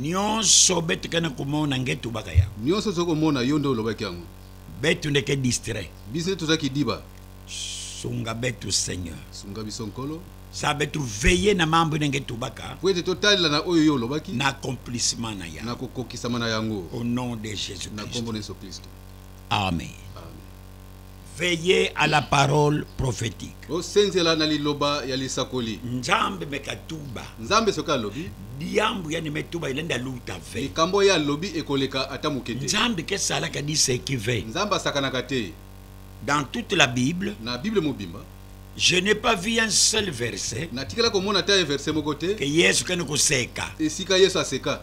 nionso betu kana komona nge tubaka ya nionso tozali komona yo nde olobaki yango betu ndeke distrait biso nde tozalaki diba sunga betu seigneur sunga biso nkolo sa betu veye na mambo ndenge tubaka po ete totalela na oyo yo olobaki na accomplissement na yango na kokokisama na yango au nom de jésus na nkombo na yesu kristo amen Veillez à la parole prophétique. osenzela na liloba ya lisakoli nzambe mekatuba nzambe soki alobi diambu ya nimetuba ilende aluta ve likambo ye alobi ekoleka ata moke te nzambe kesalaka diseki ve nzambe asakanaka te dans toute la bible na bible mobimba Je n'ai pas vu un seul verset. natikala komona ata ye verse moko te Que Yesu kende koseka. esika yesu aseka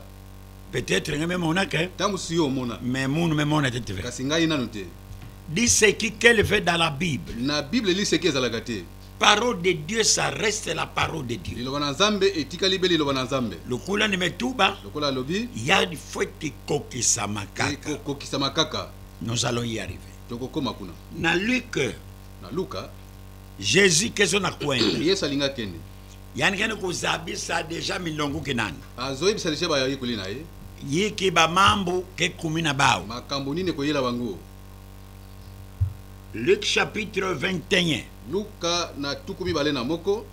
Peut-être nga memonaka. ntango mosusu yo omona Mais munu memona te te. kasi ngai nanu te Liseki qu'elle veut dans la Bible. Na Bible liseki ezalaka te. Parole de Dieu ça reste la parole de Dieu. Liloba na Nzambe etikali be liloba na Nzambe. Lokola ni metuba. Lokola alobi. Ya faut ekokisama kaka. Ekokisama kaka. Nous allons y arriver. Tokokoma kuna. Na Luc. Na Luka. Jésus kezo na kwenda. Yesu alinga kende. yani kende kozabisa deja milongo kinani azoyebisa deja bayekoli na ye yiki bamambu kekumi na bao makambo nini ekoyela bango luk chapitre 21 luka na tuku mibale na moko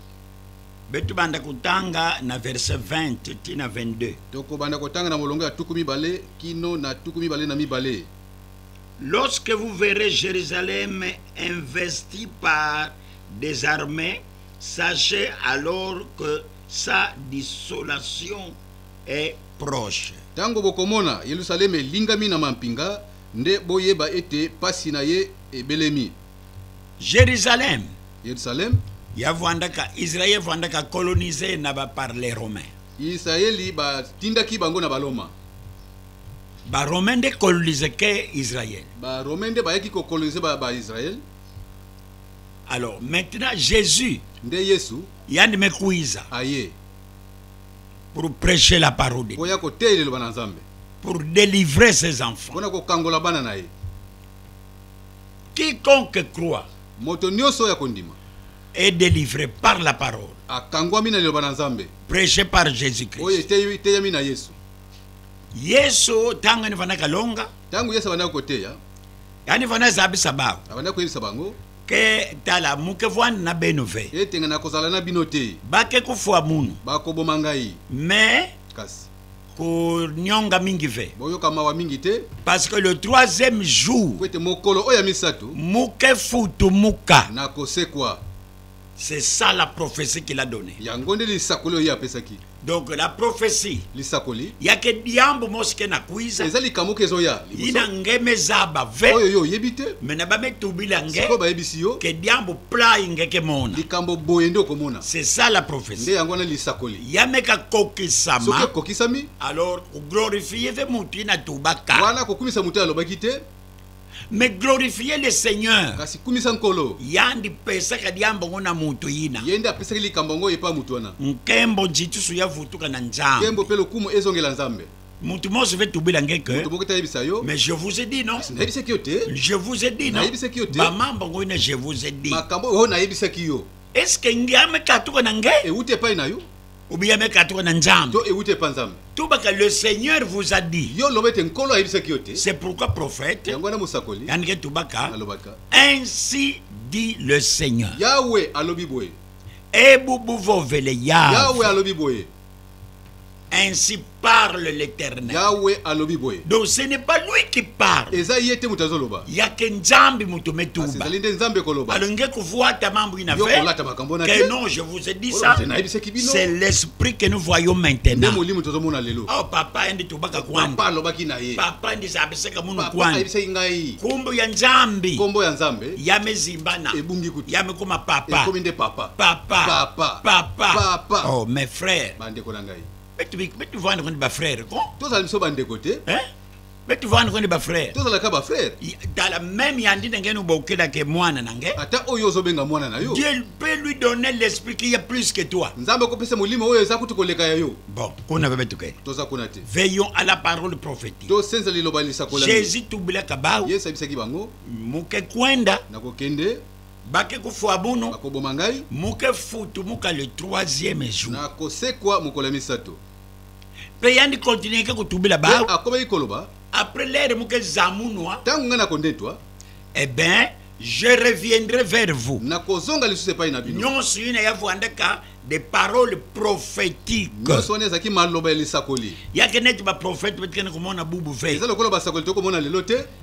betubanda kotanga na verse 20 ti na 22 tokobanda kotanga na molongo ya tuku mibale kino na tuku mibale na mibale lorsque vous verrez jérusalem investi par des armées Sachez alors que sa dissolation est proche. Tango bokomona Yelusaleme elingami na mampinga, nde boyeba ete pasi na ye ebelemi. Jerusalem. Yerusalem. Yavandaka, Israël yavandaka colonisé na ba par les Romains. Yisraeli batindaki bango na Baloma. Ba Romains nde colonisaki Israël. Ba Romains nde bayaki ko coloniser ba, ba Israël. alors maintenant jésus nde yesu yandime kuiza aye pour prêcher la parole de oya koteya liloba na nzambe pour délivrer ses enfants mpona kokangola bana na ye quiconque croit moto nyonso oyo akondima est délivré par la parole akangwami na liloba na nzambe prêché par jésus christ oyo eteyami na yesu yesu ntango ene fandaka longa Tango Yesu abandaki koteya. Yani fana zabisa bango. Abandaki koyebisa bango. Ke tala muke vwani na benu ve. Ete nga nakozala na bino te. Bake kufwa munu. Bakoboma ngai. Mais. Kasi. konyonga mingi ve boyoka mawa mingi te parce que le troisième jour po ete mokolo oyo ya misato muke futumuka nakosekwa C'est ça la prophétie qu'il a donnée. Yango nde lisakoli oyo apesaki. Donc la prophétie. Lisakoli. Yake diambo moske na kuiza. Eza likambo ke zoya. Ina ngeme zaba ve. Oyo yo yebi te. Mais na ba metubila nge. Siko ba yebisi yo. Ke diambo play nge ke mona. Likambo boye nde okomona. C'est ça la prophétie. Nde yango na lisakoli. Yameka kokisama. Soki kokisami. Alors glorifier ve mutu ina tubaka. Wana kokumisa mutu alobaki te. mais glorifier le seigneur kasi kumisa nkolo yandi pesaka liambo ngo na moto yina ye nde apesaki likambo ngo epa moto wana nkembo njitusu ya vutuka na nzambe nkembo mpe lokumu ezongela nzambe moto mosi ve tubila ngeke mais je vous ai dit non nayebisaki yo te je vous ai dit non nayebisaki yo te bamamba ngo ina je vous ai dit makambo oyo nayebisaki yo est ce que ngiamekatuka na nge euti epai na yo obiya meka atoka na nzambe to ewuti epa nzambe tobaka le seigneur vous a dit yo loba ete nkolo ayebisaki yo te c'est pourquoi prophète yango wana mosakoli yandike tobaka alobaka ainsi dit le seigneur yawe alobi boye ebubuvovele yawe yawe alobi boye ainsi parle l'éternel. Yahweh alobi boye. Donc ce n'est pas lui qui parle. Eza yete mutu azoloba. Yake nzambi mutu metuba. Asi zali nde nzambe koloba. Alonge kuvuata mambo ina fait. Yoko lata makambo na Que non, je vous ai dit ça. C'est l'esprit que nous voyons maintenant. Nde molimo tozo mona lelo. Oh papa ndi tobaka kwanda. Papa alobaki na ye. Papa ndi zabiseka munu kwanda. Papa ayebisaki ngai. Kombo ya nzambi. Kombo ya nzambe. Ya mezimbana. Ebungi kutu. Ya mekoma papa. Ekomi nde papa. Papa. Papa. Papa. Papa. Oh mes frères. Bande ko na ngai. betivanda koni bafrere ko tozala biso bandeko te eh? betivanda koni bafrere tozalaka bafrere dala meme yandi ndenge no bokelake mwana na nge ata oyo ozobenga mwana na yo dieu peut lui donner l'esprit qui est plus que toi nzambe akopesa molimo oyo eza kutu koleka ya yo bon kuna bebe tokei toza kuna te veillons à la parole prophétique tosenza liloba lisakolami jésus tubulaka bao yesu abisaki bango moke kwenda nakokende bake kufua buno bakoboma ngai muke futu muka le troisième jour nakosekwa mokolo ya misato mpe yandi continue ke kotubela ba akomaki koloba après lere muke zamunwa ntango ngai nakondetwa eh ben je reviendrai vers vous nakozonga lisusu epai na bino nyonso ina ya vwandaka des paroles prophétiques nyonso wana ezalaki maloba ya lisakoli yake neti baprofete batikende komona bubu ve eza lokola basakoli tokomona lelo te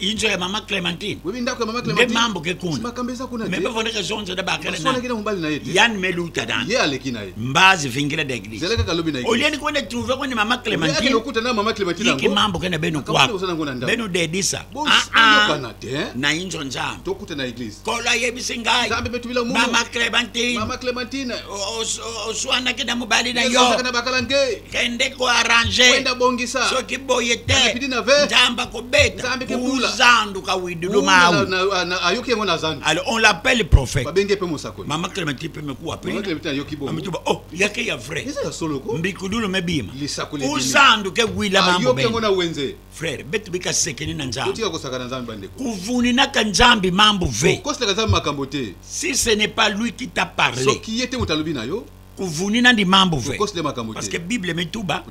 inzo ya mama clementine webi ndako ya mama clementine mambo ke kuna makambo eza kuna te mebe vonde ke zonzo da bakala na sonaki na mobali na ye te yan meluta dan ye aleki na ye mbazi vingila da eglise zela kaka lobi na ye olie ni kwenda trouver kwenda mama clementine yake lokuta na mama clementine yango yake mambo kena beno kwa beno dedisa ah ah kana te eh? na inzo nzam to kuta na eglise kola ye bisingai zambe betu bila mu mama clementine mama clementine oswana kenda mobali na yo kana bakala nge kende ko arranger kwenda bongisa soki boye te pidi na ve nzamba ko beta nzambe ke bula zandu ka widudu mawu ayoki yango na zandu alors on l'appelle prophète babenge pe mosakoli mama clementine pe meku apeli mama clementine ayoki bo amituba oh yake ya vrai eza ya solo ko mbikudulu mebima lisakoli o zandu ke gwila mambo ayoki yango na wenze frère betu bika sekeni na nzambe otika kosaka na nzambe bande kuvuni na ka nzambe mambo ve kosilaka nzambe makambo te si ce n'est pas lui qui t'a parlé soki yete mutalobi na yo kuvuni nandi mambo vwe parce que bible mituba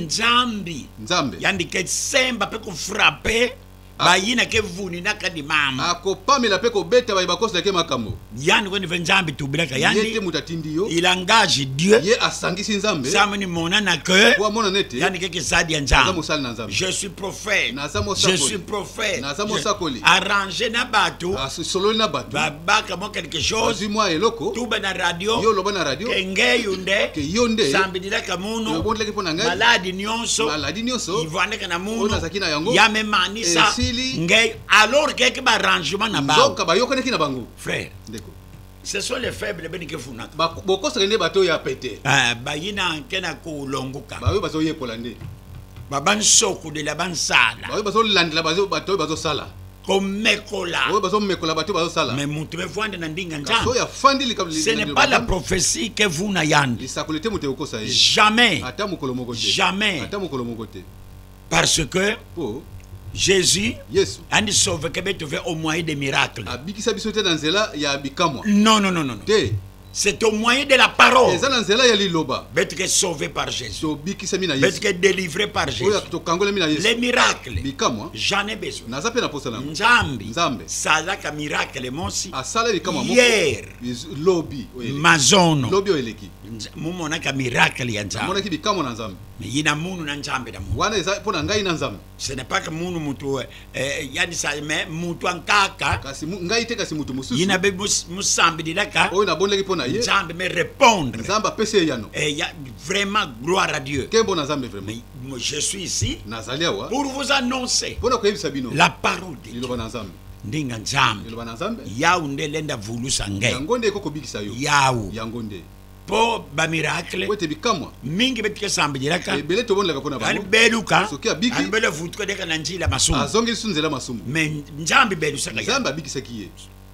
nzambi nzambe yandi ke semba pe kufrape ah. bayina ke vuni nakandi mambo akopamela ah, pe kobeta baye bakosi nake makambo yandi kweni ve nzambi tubilaka yandite moto atindi yo il engage dieu ye asangisi nzambe nzambe ni monana ke po amona nete yandi ke kizadi ya nzambe aza mosali na nzambe je suis prophète naza mosakoli je suis prophète naza mosakoli arrange na bato asololi ah, na bato baka mwa quelque chose mwa eloko tuba na radio yo loba na radio ke ngeyo nde ke yo nde sambililaka munu obondelaki mpo na ngai maladi nyonso maladi nyonso ivandaka na munu oyo nazalaki na yango ya memanisa esili ngeyo alors keke barrangement na bango nzoka bayokanaki na bango frère ndeko ce sont les faibles beni kefunaka bokosaka nde bato ya pete eh, bayina nke na kolongoka baoyo bazoyekola nde babansokulela bansala baoyo bazolandela bato oyo bazosala komekola oyo bazomekola bato bazosala me moto evwanda na mbinga nzambe afandi likambo ce n'est pas la prophétie que vous na yandi lisakoli te moto ekokosa ye jamais ata mokolo moko te jamais ata mokolo moko te parce que po jésus yesu andi sauveke betove au moyen de miracle abikisa biso te na nzela ya bikamwa non non non non te C'est au moyen de la parole. Eza na nzela ya liloba. Betike sauvé par Jésus. Tobikisami na Yesu. Betike délivré par Jésus. Oyo tokangolami na Yesu. Les miracles. Bikamwa. J'en ai besoin. Naza pe na posa na. Nzambe. Nzambe. Salaka miracle monsi. Asala bikamwa moko. Hier. Lobi. Mazono. Lobi oyeleki. Mumonaka miracle ya Nzambe. Amonaki bikamwa na Nzambe. Mais yina munu na Nzambe na munu. Wana eza pona ngai na Nzambe. ce n'est pas que munu mutu eh, eh yani sa mais mutu ankaka kasi ngai te kasi mutu mususu yina be musambi dilaka oyo na bondaki pona ye nzambe me répondre nzambe apesi ye yano eh ya vraiment gloire à Dieu ke bona nzambe vraiment mais je suis ici nazali awa pour vous annoncer pona koyebisa bino la parole de Dieu na nzambe ndinga nzambe liloba na nzambe yawu nde lenda vulusa ngai yango nde ekokobikisa yo yawu yango nde mpo bamirakle ete bikamwa mingi betika esambejelaka ebele tobondelaka mpo na bango yani beluka soki abiki yani bele vutuka deka na njila masumu azongeli su nzela masumu me nzambe belusaka ye nzambe abikisaki ye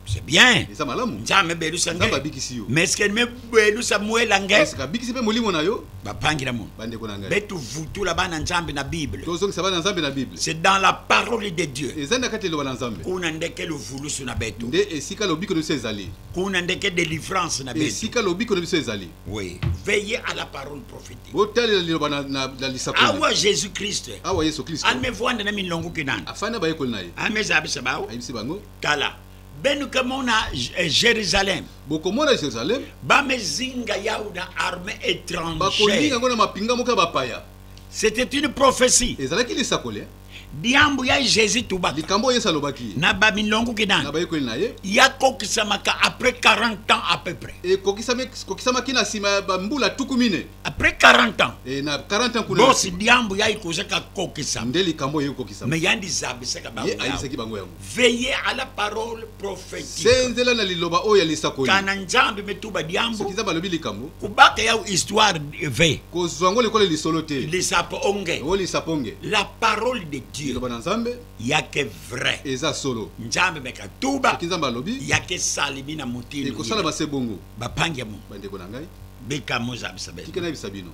c'est bien eza malamu nzambe belusa nzambe abikisi yo mais est ce que me belusa mwela ngai est ce que abikisi mpe molimo na yo bapangila mono bandeko na ngai betuvutula bana nzambe na bible tozongisa bana nzambe na bible c'est dans la parole de dieu eza na kati eloba na nzambe kuna ndeke luvulusu na betu nde esika lobiko na biso ezali kuna ndeke délivrance na biso esika lobiko na biso ezali oui veillez à la parole prophétique botalela liloba na, na, na lisakoli awa jésus christ awa yesu christ amevwanda na milongo kinana afanda bayekoli na ye ameza abisa bao ayebisi bango tala benu ke mona eh, jérusalem bokomona jérusalem bamezinga yau na armée étrangère bakolinga yango na mapinga moko ya bapaya c'était une prophétie ezalaki lisakoli eh? diambu ya jésus tubaka likambo oyo yesu alobaki na bamilongo kinani na bayekoli na ye yakokisamaka après 40 ans à peu près ekokisamaki na nsima ya bambula tuku mine après 40 ans e na 40 ans kuna bosi diambu ya ikozaka kokisama nde likambo oyo ekokisama me yandizabisaka bango ye ayisaki bango yango Veillez à la parole prophétique. Senzela na liloba oyo ya lisakoli. Kana nzambe metuba diambo. Soki nzambe alobi likambo. Kubaka ya histoire ve. Kozwa ngo likolo lisolo te. Lisapo onge. Ngo lisapo onge. La parole de Dieu. Liloba na nzambe. Yake vrai. Eza solo. Nzambe meka tuba. Soki nzambe alobi. Yake salimi na motini. Ekosala base bongo. Bapangi ya mo. Bandeko na ngai. Beka mozabisa bino. Kika na bisa bino.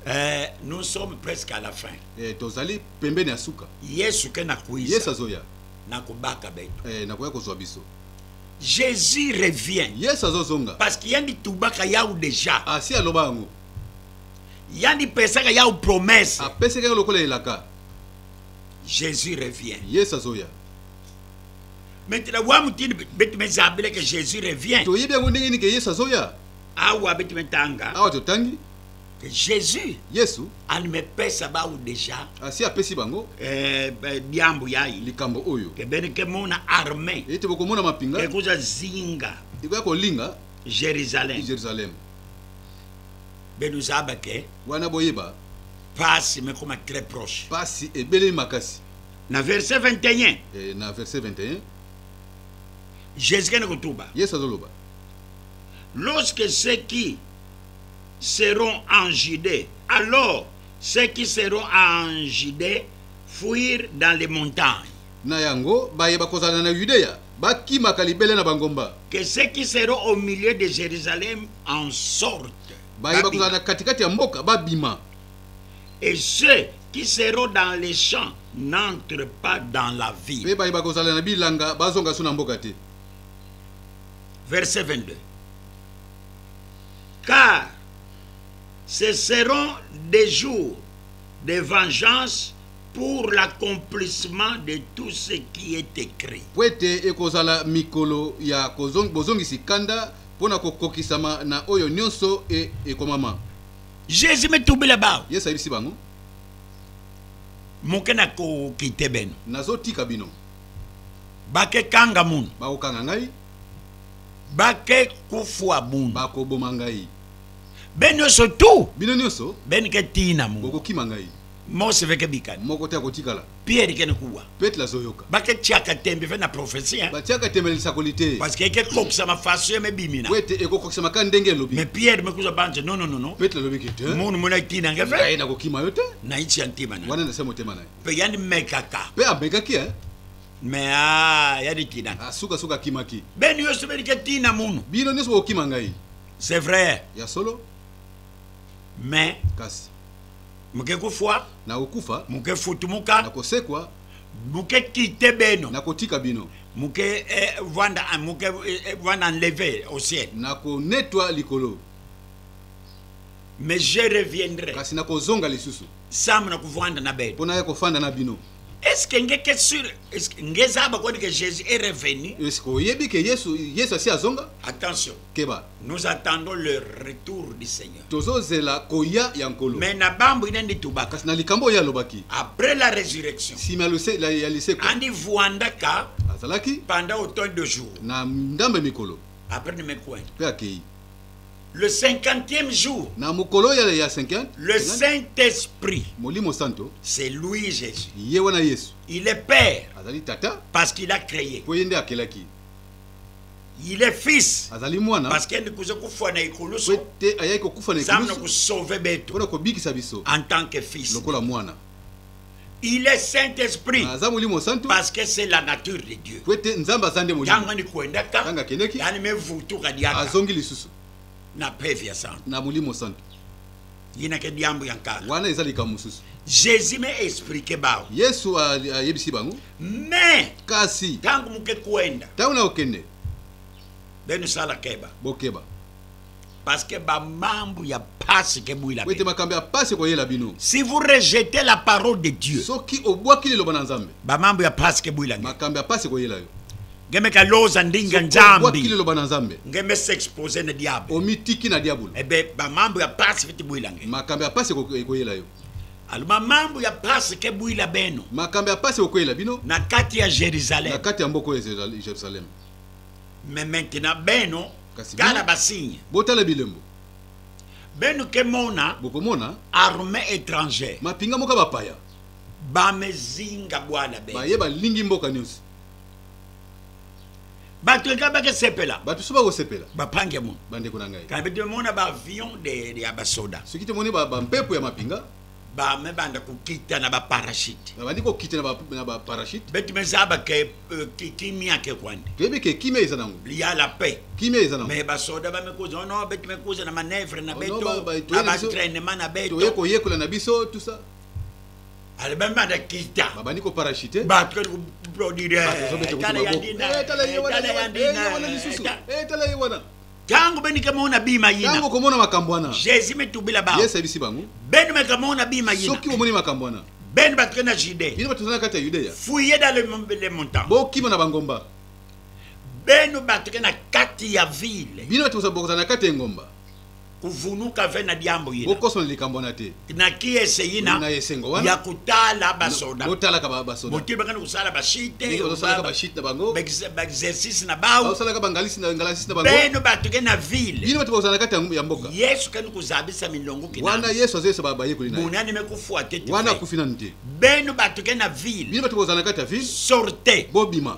Eh, nous sommes presque à la fin. Eh, tozali pembeni ya suka. Yesu ke nakuisa. Yesu azoya. Nakobaka beto. Eh, nakoya kozwa biso. Jésus revient. Yesu azozonga. Parce que yandi tubaka yao déjà. Asi ah, aloba yango. Yandi pesaka yao promesse. Apesaka ah, lokola elaka. Jésus revient. Yesu azoya. Maintenant, wa mutini betu mezabile que Jésus revient. Toyebi yango ndenge ni que Yesu azoya. awa abeti me tanga awa totangi que jésus yesu amepesa bawu déjà asi ah, apesi bango eh, biambu ya ye likambo oyo kebeni kemona armée ete bokomona mapinga ekoza zinga ekoya kolinga jérusalem jérusalem benuzaba ke wana boyeba pasi mekoma très proche pasi ebelemi makasi na verset 21 eh, na verset 21 jésus kende kotuba yesu azoloba Lorsque ceux qui seront en Judée, alors ceux qui seront en Judée fuirent dans les montagnes. Na yango, baye bakozala na Yudea bakimaka libele na bangomba. Que ceux qui seront au milieu de Jérusalem en sortent. Baye bakozala na katikati ya mboka babima. Et ceux qui seront dans les champs n'entrent pas dans la ville. Pe baye bakozala na bilanga bazonga so na mboka te. verset 22. Car ce seront des jours de vengeance pour l'accomplissement de tout ce qui est écrit. mpo ete ekozala mikolo ya kozong- bozongisi kanda mpo na kokokisama na oyo nyonso e- ekomama Jésus me tubila bao. yesu ayebisi bango Moke na kokite beno. nazotika bino bakekanga munu bakokanga ngai bakekufua munu bakoboma ngai be nyonso tu bino nyonso benike tina munu bokokima ngai mose veke bikani moko te akotikala pierre kene kuwa petro azoyoka baketiaka tembe ve na profesi hein? batiaka tembe na lisakoli te parce que ekekokisama faso ye mebimina po ete ekokokisama kaka ndenge elobi mais pierre mekuza banje nononono petro alobi ke te munu mona etina nge ve nakokima yo te naiti ya ntima na wana nase motema na ye mpe yandi mekaka mpe amekaki e me a yadi kina ah, sukasuka akimaki beni nyonso belike tina munu bino nyonso bokokima ngai c'est vrai ya solo me kasi moke kufwa nakokufa moke futumuka nakosekwa moke kite beno nakotika bino moke eh, vanda eh, moke eh, eh, vanda enleve au ciel nakonetwa likolo Mais je reviendrai. Kasi nakozonga lisusu. Sam nakuvanda na bino. Pona ya kofanda na bino. Est-ce que nge que sur est-ce que nge zaba ko que Jésus est revenu? Est-ce que oyebi que Yesu Yesu asi azonga? Attention. Keba. Nous attendons le retour du Seigneur. Tozo zela koya ya nkolo. Mais na bambu ina ndi tubaka. Kasi na likambo ya lobaki. Après la résurrection. Si ma lose la ya lise ko. Andi vuanda ka. Azalaki. Pendant autant de jours. Na ndambe mikolo. Après ne me coin. Pe akei. Le cinquantième jour. Na mukolo ya ya cinquante. Le Saint-Esprit. Molimo santo. C'est lui Jésus. Ye wana Yesu. Il est père. Azali tata. Parce qu'il a créé. Po yende akelaki. Il est fils. Azali mwana. Parce qu'il kuza kufa na ikulusu. Wete ayaki kokufa na ikulusu. Zamna ko sauver beto. Pona ko bikisa biso. En tant que fils. Lokola mwana. Il est Saint-Esprit. Aza molimo santu. Parce que c'est la nature de Dieu. Po ete Nzambe aza nde molimo. Tango ni kuendaka. Tango akendeki. Yani mevutuka diaka. Azongi lisusu. Na pevi ya santu. Na molimo santu. Yina ke diambo ya nkala. Wana eza likambo mosusu. Jésus m'a expliqué bango. Yesu ayebisi bango. Mais kasi tango moke kuenda. Tango na okende. Benu sala keba. Bokeba. Parce que ba mambu ya pasi ke buila. Oui, te makambo ya pasi ko yela bino. Si vous rejetez la parole de Dieu. Soki obwaki liloba na Nzambe. Ba mambu ya pasi ke buila. Makambo ya pasi ko yela yo. Ngeme ka loza ndinga Nzambe. Obwaki liloba na Nzambe. Ngeme s'exposer na diable. Omitiki na diable. Eh ben ba mambu ya pasi fiti buila nge. Makambo ya pasi ko yela yo. Alors ma mambu ya pasi ke buila beno. Makambo ya pasi ko yela bino. Na kati ya Jerusalem. Na kati ya mboko ya Jerusalem. mais maintenant beno tala basigne botala bilembo beno kemona bokomona armée étrangère mapinga moko bapaya bamezinga bwana beno baye balingi mboka nyonso bato eka bakesepela bato so bakosepela bapange mono bandeko na ngai kabe tomona baavion ya basoda soki tomoni bampepo ya mapinga ba me banda kokita na ba parachute babandi kokita na ba parachute beti meza ba ke euh, kimia ke kwande toyebi ke kimia eza nango ya la paix kimia eza nango mais basoda bamekoza ono oh beti mekoza na manœuvre na oh beto na baentrainement na beto toye koyekola na biso tout ça ale bambanda kita babandi koparachute bato kali koproduire tala yandina tala ye wana ntango benike moko na bima yina ntango okomona makambo wana jésus metubila bango yesu ayebisi bango beni makambo moko na bima yina soki omoni makambo wana beni bato na jude bino bato na kati ya yudea fuye dans le montant bokima na bangomba beno bato na kati ya ville bino bato bokozala na kati ya engomba kuvunuka ve na diambo yina bokosona likambo wana te naki eseyi na ya kotala basoda botalaka basoda boke bakani kosala bashite basalaka bashite na bango baexercice na bao basalaka bangalisi na ngalasi na bango beno bato ke na ville bino bato kozala kati ya mboka yesu kani kozabisa milongo kina wana yesu azoyesa bayekoli na ye bonani me kofua te wana akufi nanu te beno bato ke na ville bino bato kozala kati ya ville sorte bobima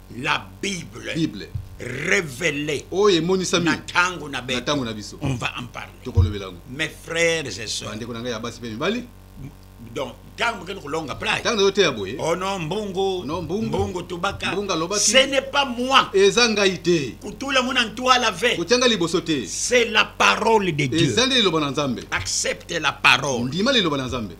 La Bible. Bible. Révélée. Oh, et monisami. Na tango na beto. Na tango na biso. On va en parler. Toko lobela ngo. Mes frères et sœurs. Bande ko nanga ya basi pe mibali. Donc, tango ke longa play. Tango yote ya boye. Oh non, mbongo. Non, mbongo. Mbongo tobaka. Mbongo lobaki. Ce n'est pas moi. Eza ngai te. Kutula mona ntwa la ve. Kutanga liboso te. C'est la parole de Dieu. Eza nde liloba na Nzambe. Accepte la parole. Ndima liloba na Nzambe.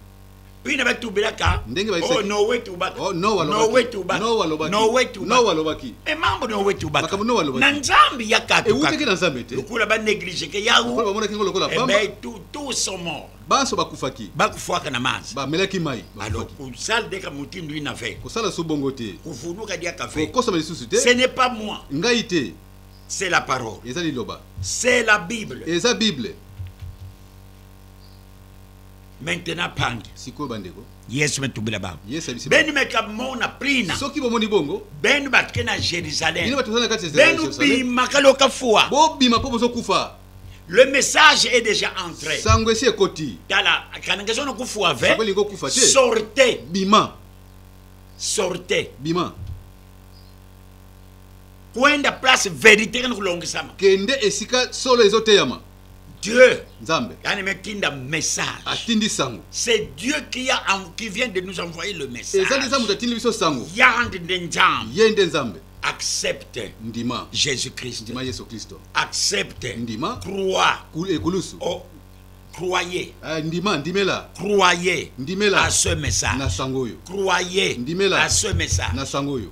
bino batubelaka ndenge oh, nowe tubaka oh, nowe tubaka nowe tubakanoalobaki me mambo nowe tubaka na nzambe ya katuewutaki na nzambe te lokola banegligeke yaokola bamonaki ngo lokola eh pamba tout sont morts banso bakufaki bakufwaka na mazi bamelaki mai alors kosala deka motindo ina ve kosala so bongo te kofuluka diaka ve kokosama lisusu te ce n'est pas moi ngai te c'est la parole eza liloba c'est la bible eza bible maintenant pangi sikoyo bandeko yesu betubila bango beni meka mona prina soki bomoni bongo beni bake na jérusalem beni bimaka loka fua bobima mpo bozokufa le message est déjà entré sango esi ekoti tala kanangesa ono kufua ve sorte bima sorte bima kwenda place verité kani kulongisama kende esika solo ezoteyama Dieu Nzambe atinda message atindi sango c'est Dieu qui a qui vient de nous envoyer le message ezali eza moto atindi biso sango yande nde Nzambe ye nde Nzambe accepte ndima Jésus Christ ndima Yesu Kristo accepte ndima croix ekulusu oh, croyez eh, ndima ndimela croyez ndimela à ce message na sango oyo croyez ndimela à ce message na sango oyo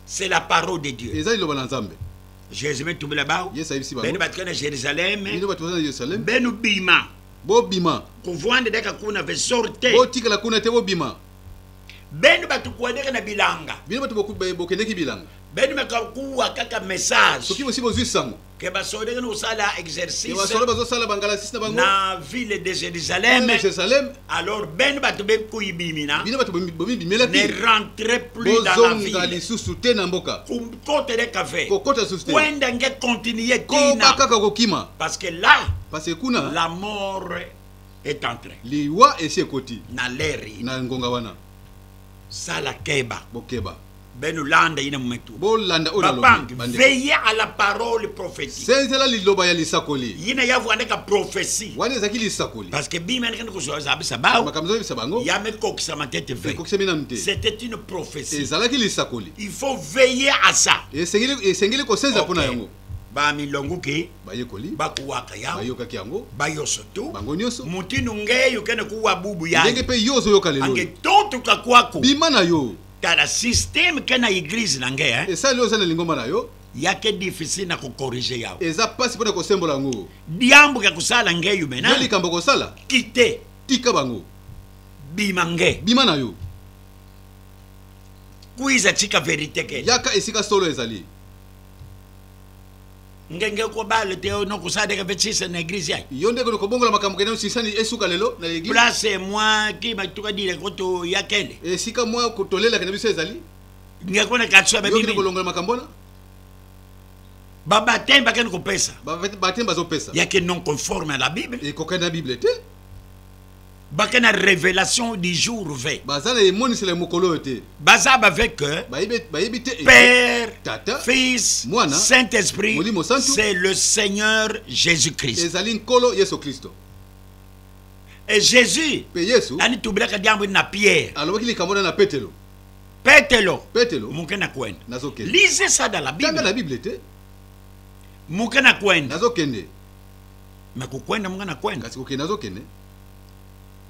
c'est la parole de Dieu ezali loba na Nzambe Jésus me tubela bao. Yesu ayebisi bango. Bino bato kana Jérusalem. Bino bato kana Jérusalem. Bino bima. Bobima. Kuvanda daka kuna ve sorte. Botikala kuna te bobima. Bino bato kuadeka na bilanga. Bino bato bokendeki bilanga. Bino makakuwa kaka message. Soki bosi bozwi sango. Ke basode kana osala exercice. Ke basode bazosala bangalasisi na bango. Na ville de Jérusalem. Na Jérusalem. Alors bino bato bekuyibimina. Bino bato bomibimelaki. Ne rentre plus dans la ville. Bozonga lisusu te na mboka. côte de café kokota susu te kwenda nge continuer tina kaka kokima parce que là parce que kuna la mort est entrée liwa esi ekoti na leri na ngonga wana sala keba bokeba beno landa ina mumetu bolanda oyo nalobi veille à la parole prophétique senzela liloba ya lisakoli yina yavu andeka prophétie wana ezalaki lisakoli parce que bima andekende kozoza abisa bao makambo ezobisa bango yamekokisama te te ve ekokisami nanu te c'était une prophétie ezalaki lisakoli il faut veiller à ça esengeli esengeli kosenza mpona okay. yango bamilongo ke bayekoli bakuwaka yango bayokaki yango bayoso tu bango nyonso motino nge yokende kuwa bubu ya ndenge mpe yo ozoyoka lelo ange totuka kwako bima na yo tala systeme ke na eglise na nge eh? esali oza na lingomba na yo yake difficile na kokorige yango eza mpasi mpo na kosembola yango diambo ya kosala nge yo mena yo likambo kosala kite tika bango bima nge bima na yo kuiza tika verite ke yaka esika solo ezali ngenge kobalo te oyo nokosalaka mpe sisa na eglise yai yo ndeko nokobongola makambo kende osisani esuka lelo na eglise place mwa ki batuka dile koto ya kende esika mwa tolelaka na biso ezali ngeko na kati ya bamimi kolongola makambo wana babatemi bakende kopesa babatemi bazopesa yake non conforme à la bible ekokani na bible te bake na révélation du jour v baza na emonisela ya mokolo oyo te baza bave que bayebi te père tata fils mwana saint esprit molimo santu c'est le seigneur jésus christ ezali nkolo yesu kristo e jésus mpe yesu anitubelaka diambo na pierre alobaki likambo na na petelo petelo petelo moke na kwenda nazokende lise sada la bible na bible te moke na kwenda nazokende me kokwenda monga na kwenda kasi kokende azokende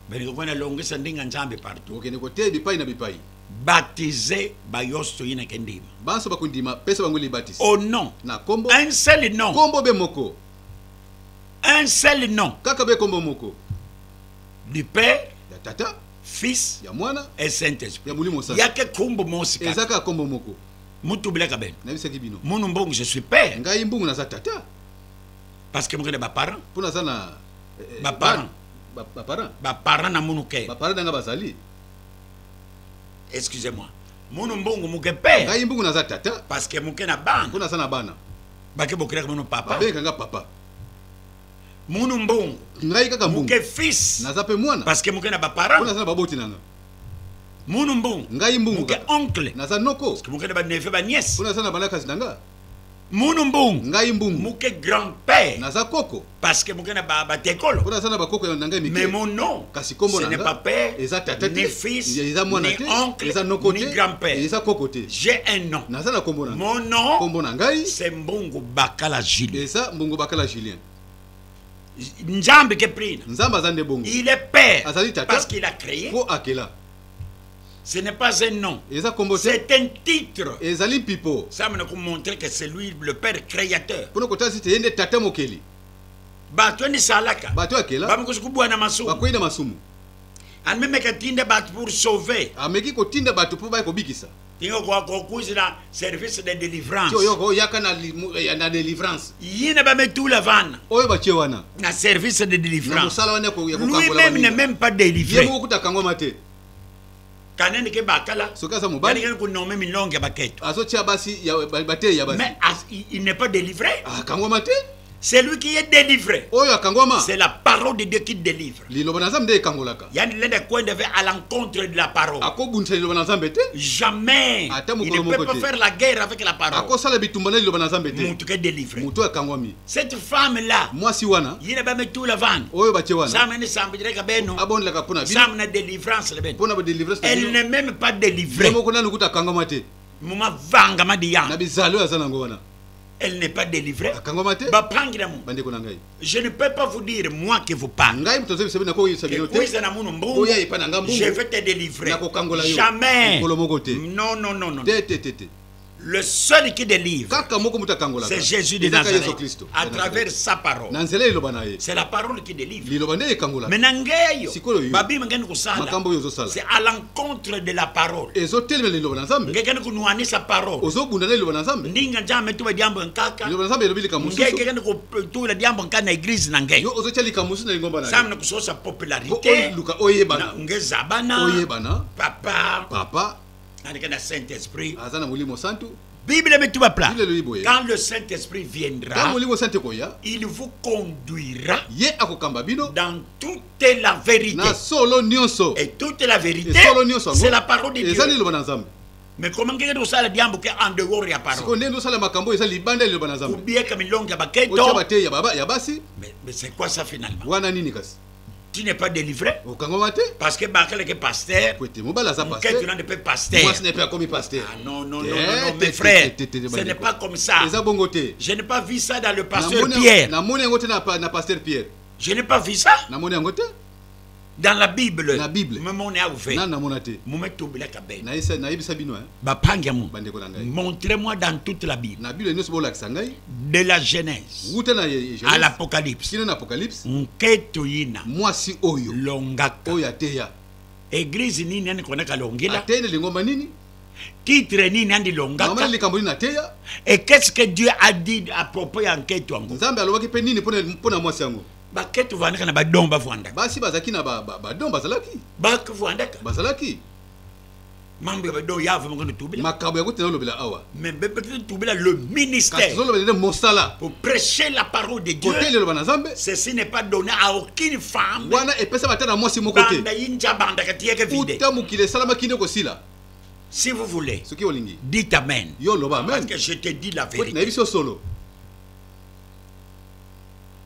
balingi kokwa na longisa ndenge ya nzambe partout kokende koteya bipai na bipai baptise bayoso toyinaka ndima banso bakondima pesa bango libatisi o oh nom na kombo un seul nom kombo be moko un seul nom kaka be kombo moko du père ya tata fils ya mwana et saint esprit ya molimo santu yake kombo mosi kaka ezaka kombo moko mutu bilaka bene nabisaki bino munu mbongo je suis père ngai mbongo naza tata parce que mokende ba parents mpo naza na eh, eh, ba parents ba parents ba parents na munu ke ba parents nanga bazali excusez moi munu mbongo moke mpe ngai mbongo naza tata parce que moke na bana mpo naza na bana bake bokelaka munu papa babengaka nga papa munu mbongo ngai kaka mbongo moke fils naza mpe mwana parce que moke na ba parents mpo naza na baboti nanga munu mbongo ngai mbongo moke oncle naza noko parce que moke na ba neveu ba nièce mpo naza na balakasi na nga Munu mbung. Ngai mbung. Muke grand père. Naza koko. Parce que muke na ba ba tekolo. Kuna sana ba koko ya nanga mike. Mais mon nom. Kasi kombo nanga. Ce n'est pas père. Eza tata te. Ni fils. Eza mwana te. Ni oncle. Eza noko te. Ni grand père. Eza koko te. J'ai un nom. Naza na kombo nanga. Mon nom. Kombo na ngai. C'est mbungu bakala Julien. Eza mbungu bakala Julien. Nzambe ke prina. Nzambe azande bongo. Il est père. Azali tata. Parce qu'il a créé. Po akela. Ce n'est pas un nom. C'est un titre. Ezali pipo. Ça m'a montré que c'est lui le père créateur. Pour le côté c'était yende tata mokeli. Bato ni salaka. Bato akela. Ba mkosi kubwa na masumu. Ba kwenda masumu. Amemeka tinda bato pour sauver. Ameki ko tinda bato pour ba ko bikisa. tinga kwa kokuzi na service de délivrance oyo oyaka na, eh, na délivrance ye na bametula vana oyo batie wana na service de délivrance mosala wana lui même ne même pas délivré ye mokokutaka yango ma te kanene ke bakala soki aza mobali ko nommer milonge ya baketo azotia basi ya bateyi ya basi mais il n'est pas délivré ah kango ma te Celui qui est délivré. Oyo akangwama. C'est la parole de Dieu qui délivre. Liloba na Nzambe ekangolaka. Yani lenda kwenda vers à l'encontre de la parole. Akobundisa liloba na Nzambe te. Jamais. Ata mokolo moko te. Il ne peut pas faire la guerre avec la parole. Akosala bitumba na liloba na Nzambe te. Mutu ke délivre. Mutu akangwami. Cette femme là. Mwasi wana. Yina ba metu la vendre. Oyo ba che wana. Sama ni sambi direka beno. Abonde la kapona bino. Sama na délivrance le beno. Pona ba délivrance. Elle n'est même pas délivrée. Moko na nukuta kangwama te. Muma vanga madiya. Na bizalo ya zana ngwana. elle n'est pas délivrée ba pangi na mungu bandeko na ngai je ne peux pas vous dire moi que vous parle ngai moto azoyebisa bino nakoyebisa bino te oza na munu mbongo oya epa na ngai mbongo je vais te délivrer nakokangola yo jamais mokolo moko te non non non non te te te te le seul qui délivre kaka moko moto akangolaka c'est Jésus de Nazareth Yesu Kristo à travers sa parole na nzela liloba na ye c'est la parole qui délivre liloba nde ekangolaka mais na ngai yo sikoyo yo babima ngani kosala makambo yo ozosala c'est contre de la parole ezotelemela liloba na nzambe ngekende konuanisa parole ozobunda na liloba na nzambe ndinga nzambe tuba diambo nkaka liloba na nzambe elobi likambo mosusu ngekende kotula diambo nka na eglise na ngai yo ozotya likambo mosusu na lingomba na nzambe na kososa popularité oluka oyebana ngezabana oyebana papa papa aleka na saint esprit aza na molimo santu Bible met tout bas plat. Quand le Saint-Esprit viendra, il vous conduira dans toute la vérité. Et toute la vérité, c'est la parole de Dieu. Mais comment que nous sommes diambo que en dehors ya parole. Siko nendo sala makambo ezali libanda liloba na Nzambe. Kubieka milonga baketo. Ocha bate ya baba ya basi. Mais mais c'est quoi ça finalement? Wana nini kasi? tu n'es pas délivré okangama te parce que bakaleke pasteur kwete mobali aza pasteur tu n'es pas pasteur moi ce n'est pas comme pasteur ah non non non non mes frères ce n'est pas comme ça eza bongo te je n'ai pas vu ça dans le pasteur Pierre na moni ngote na na pasteur Pierre je n'ai pas vu ça na moni ngote dans la bible na bible mais mon a ouvert na na monate mume tobela kabel na yesa na yebisa bino hein bapangi ya moto bandeko na ngai montre moi dans toute la bible na bible nyonso bolakisa ngai de la genèse wuta na à l'apocalypse kino na apocalypse nketo yina mwasi oyo longaka oyo ateya eglise nini ani konaka longela ateya na lingomba nini titre nini andi longaka likambo nini ateya et qu'est-ce que dieu a dit à propos ya nketo yango nzambe alobaki mpe nini mpo na mwasi yango baketo vandaka na badon bavandaka basi bazalaki na badon bazalaki bavandaka bazalaki mambo ya badon ya vraiment kono tubila makambo yango tena olobela awa mais bepetete tubila le ministère tozolobela nde mosala pour prêcher la parole de dieu kote liloba na nzambe ceci n'est pas donné à aucune femme wana epesama ata na mwasi moko te banda yinja bandaka tiyeke vide uta mokili esalamaki nde kosila si vous voulez soki olingi dit amen yo loba amen parce que je te dis la vérité nayebi so solo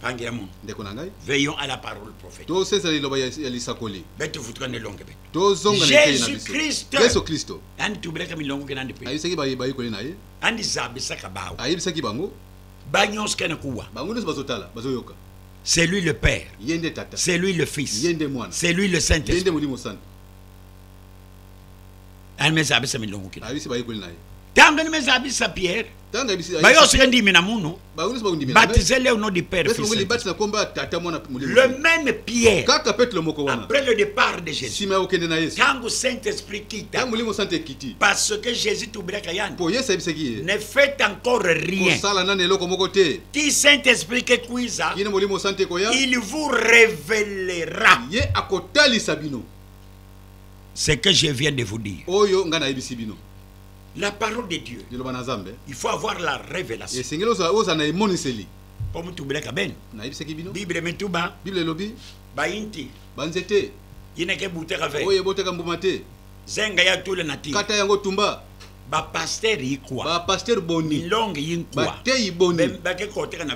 pangela mono ndeko na ngai veillons à la parole prophète tosesala liloba ya lisakoli bete vutukane longe bete tozonga na eteyi na biso yesu kristo andi tubelaka milongo kenandi mpe ayebisaki bayekoli na ye andi zambisaka bango ayebisaki bango banyonso kene kuwa bango nyonso bazotala bazoyoka c'est lui le père ye nde tata c'est lui le fils ye nde mwana c'est lui le saint esprit ye nde molimo santo ani meza abisa milongo kina ayebisi bayekoli na ye ntango ani meza abisa pierre baye osika ndimi na munu baptise le au nom du père le même pierre kaka petelo moko wana après le départ de jésus sima ya kokende na yesu ntango saint esprit kita ntango molimo santo ekiti parce que jésus tobelaka yani mpo yesu ayebisaki ye ne fait encore rien kosala nani eloko moko te ti saint esprit kekuiza kino molimo santo ekoya il vous révélera ye akotalisa bino ce que je viens de vous dire oyo ngai nayebisi bino La parole de Dieu. Liloba na Nzambe. Il faut avoir la révélation. Esengeli ozala ozala na emoniseli. Mpo motubelaka bene. Nayebisaki bino. Bible mituba. Bible elobi. Bayinti. Banzete. Yinaka ebutaka ve. Oyo ebotaka mbuma te. Zenga ya tule na ti. Kata yango tumba. Ba pasteur yikwa. Ba pasteur boni. Milonge yinkwa. Bateyi boni. Bake koteka na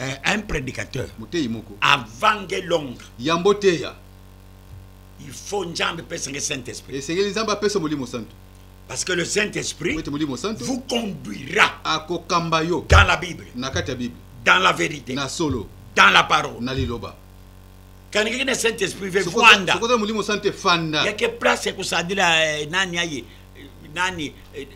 eh, un prédicateur moteyi moko avange longa yambo teya il faut nzambe pesa nge saint esprit esengeli nzambe apesa molimo santo parce que le saint esprit molimo santo vous conduira akokamba yo dans la bible na kati ya bible dans la vérité na solo dans la parole na liloba kaniki na saint esprit ve fanda sokoza molimo santo efanda yake place ya kosadila eh, nani aye eh, nani eh,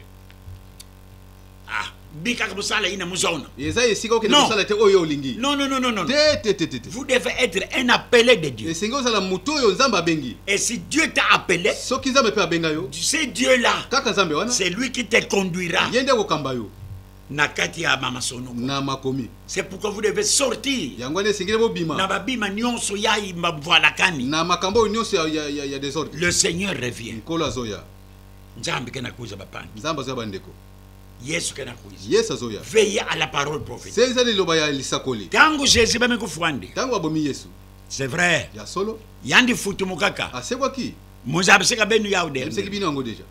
ah bikaka bosala ina muzona eza esika okende kosala te oyo olingi non non non non non te te te te vous devez être un appelé de Dieu esengi ozala moto oyo nzambe abengi et si Dieu t'a appelé soki nzambe mpe abenga yo ce Dieu là kaka nzambe wana c'est lui qui te conduira ye nde akokamba yo na kati ya mama sonoko na makomi c'est pourquoi vous devez sortir yango wana esengeli bobima na babima nyonso ya mabvalakani na makambo oyo nyonso ya, ya, ya, ya desordre le seigneur revient nkolo azoya nzambe kena kuiza bapangi nzambe azoya bandeko yesu kena kuiza yesu azoya veille à la parole prophète senza liloba ya lisakoli ntango jésus bami kofwande ntango babomi yesu c'est vrai ya solo yandi futumu kaka asekwaki moza abiseka benu yao de abiseki bino yango deja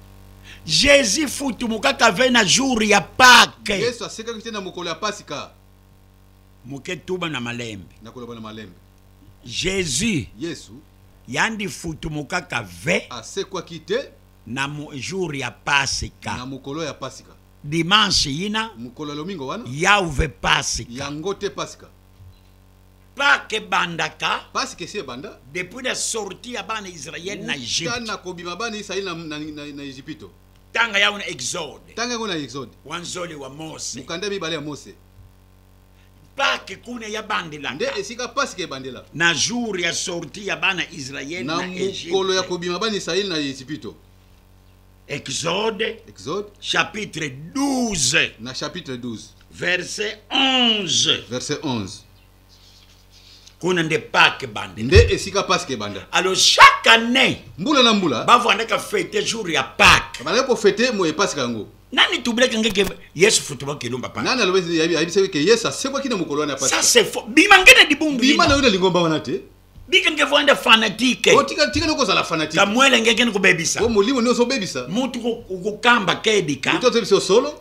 jésus futumu kaka ve na jour ya pake yesu asekaki te na mokolo ya pasika moke tuba na malembe nakoloba na malembe jésus yesu Yandi futumuka ka ve. Asekwaki te. Na jour ya Pasika. Na mokolo ya Pasika. Dimanche yina. Mokolo ya lomingo wana. Yauve Pasika. Yango te Pasika. Pâques ebandaka Pâques esi ebanda depuis la sortie ya bana Israël na Egypte. Tana kobima bana Israël na na, na, na Egypte. Tanga yango na Exode. Tanga yango na Exode. Wanzoli wa Mose. Mukanda mibale ya Mose. pake kuna ya bandela nde esika pasika ebandela na jour ya sorti ya bana israele na mokolo ya kobima bana israele na ezipito exode exode chapitre 12 na chapitre 12 verset 11 verset 11 kuna nde park ebanda nde esika park ebanda alors chaque année mbula na mbula bavandaka fete jour ya park bazalaki kofete moye park yango nani tubulaki ngeke yesu futuba kilumba pa nani alobi ayebisaki ke yesu asekwaki na mokolo wana ya park ça c'est faux bima ngene libundu bima na yo na lingomba wana te bika ngeke vanda fanatike oh, tika tika noko zala fanatike kamwele ngeke ni kubebisa o oh, molimo ni ozo bebisa mutu ko kamba kebika mutu ozo bebisa solo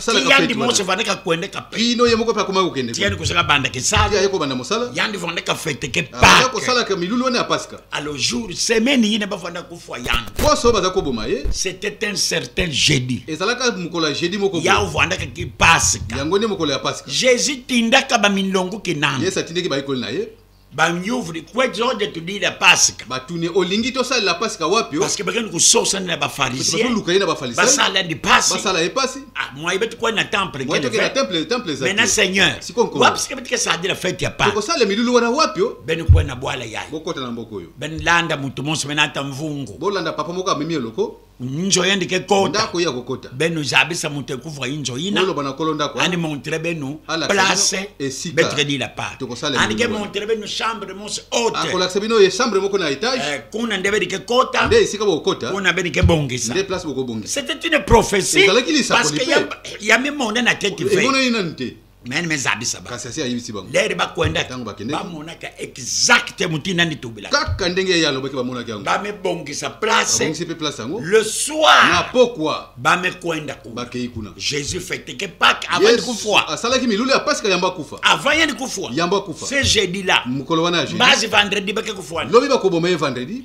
salaka yandi fete mose wana. vande kakwende kape bino ye moko mpe akomaki kokende tiyani kozala banda Ti kesala aye kobanda mosala yandi vande kafete ke abanda pake kosalaka milulu wana ya paska alo jour semaine yine bavanda kufa yandi poso baza koboma ye c'était un certain jeudi ezalaka mokolo ya jeudi moko boye. ya ovandaka ki pasika yango nde mokolo ya paska jésus tindaka bamilongo kinana yesu atindeki bayekoli na ye banyuvuli kwezoje tudila pasika batuni olingi tosalela pasika wapi parceke bakende kososana na bafarisieoluka ye na bafarisaibasala ni pasi basala ye pasi ah, mwaye batikwani na temple na temple temple ezali na seigneur wapi sika batika sadila fete ya pa okosala milulu wana wapi o bene kwani na bwala yaye bokota na mboko oyo bene landa moto monso mena ata mvungu bolanda papa moko amemi eloko njo yende ke kota ndako ya kokota beno jabisa moto ekuvra injo ina oloba na kolo ndako ani montre beno place betre di la part ani ke montre beno chambre mose haute akolakisa bino ye chambre moko na etage eh, kuna nde bedi ke kota nde esika bokokota kuna bedi ke bongisa nde place bokobongisa c'était une prophétie parce que ya mimone na tete ve mene mezabisa kasi asi ayebisi bango lere bakwenda ntango bakende bamonaka exacte motu nani tobela kaka ndenge ye alobaki bamonaki yango bamibongisa placebongisi mpe place yango le soir na pokwa bamekwenda kuna bakei kuna jésus feteke pake avant kufua asalaki milulu ya paska yambo akufa avant yeni kufua yambo akufa ce jeudi là mokolo wana ya jeudi mbazi vendredi bake kufua lobi bakoboma ye vendredi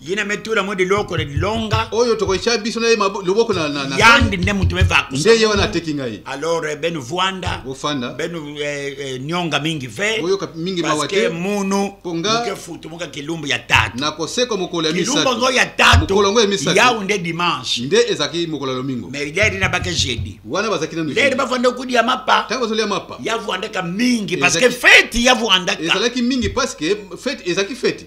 ye na metula mwe liloko le longa oyo tokotia biso na ye loboko na na yandi nde mutu me vaku nde ye wana ateki ngai alors eh, benu vuanda ofanda benu eh, eh, nyonga mingi ve oyoka mingi mawa te munu ponga ke futu muka kilumbu ya tatu na koseko mokolo ya misatu kilumbu ngo ya tatu mokolo ngo ya misatu yawu nde dimanche nde ezaki mokolo ya lomingo mais leri na bake jeudi wana bazaki na leri ba vanda kudi ya mapa tango zoli ya mapa ya vuanda ka mingi parce que fete ya vuanda ka ezalaki mingi parce que fete ezalaki fete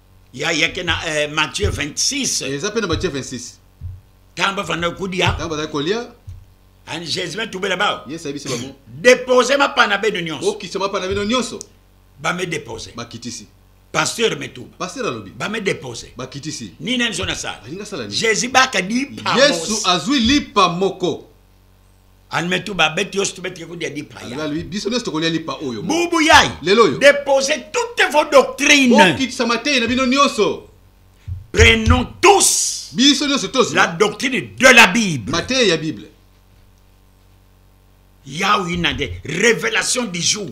ya ya ke na eh, Matthieu 26 eh, eza pe na Matthieu 26 tamba fanda kudia tamba za kolia ani Jésus ba tubela ba yes abisi ba mo déposer ma pana be de nyonso okisa ma pana be de nyonso ba me déposer ba kitisi pasteur metuba pasteur alobi ba me déposer ba kitisi nini nzo na sala alinga sala nini Jésus ba ka di pa yesu azui lipa moko almetu babeti yo situbetike kodia lipa yalui biso nyonso tokolia lipa oyo bubu yai lelo oyo depose toute vos doctrine bokitisa mateyi na bino nyonso prenons tous biso nyonso tozi la doctrine de la bible mateyi ya bible yaoina nde révélation du jour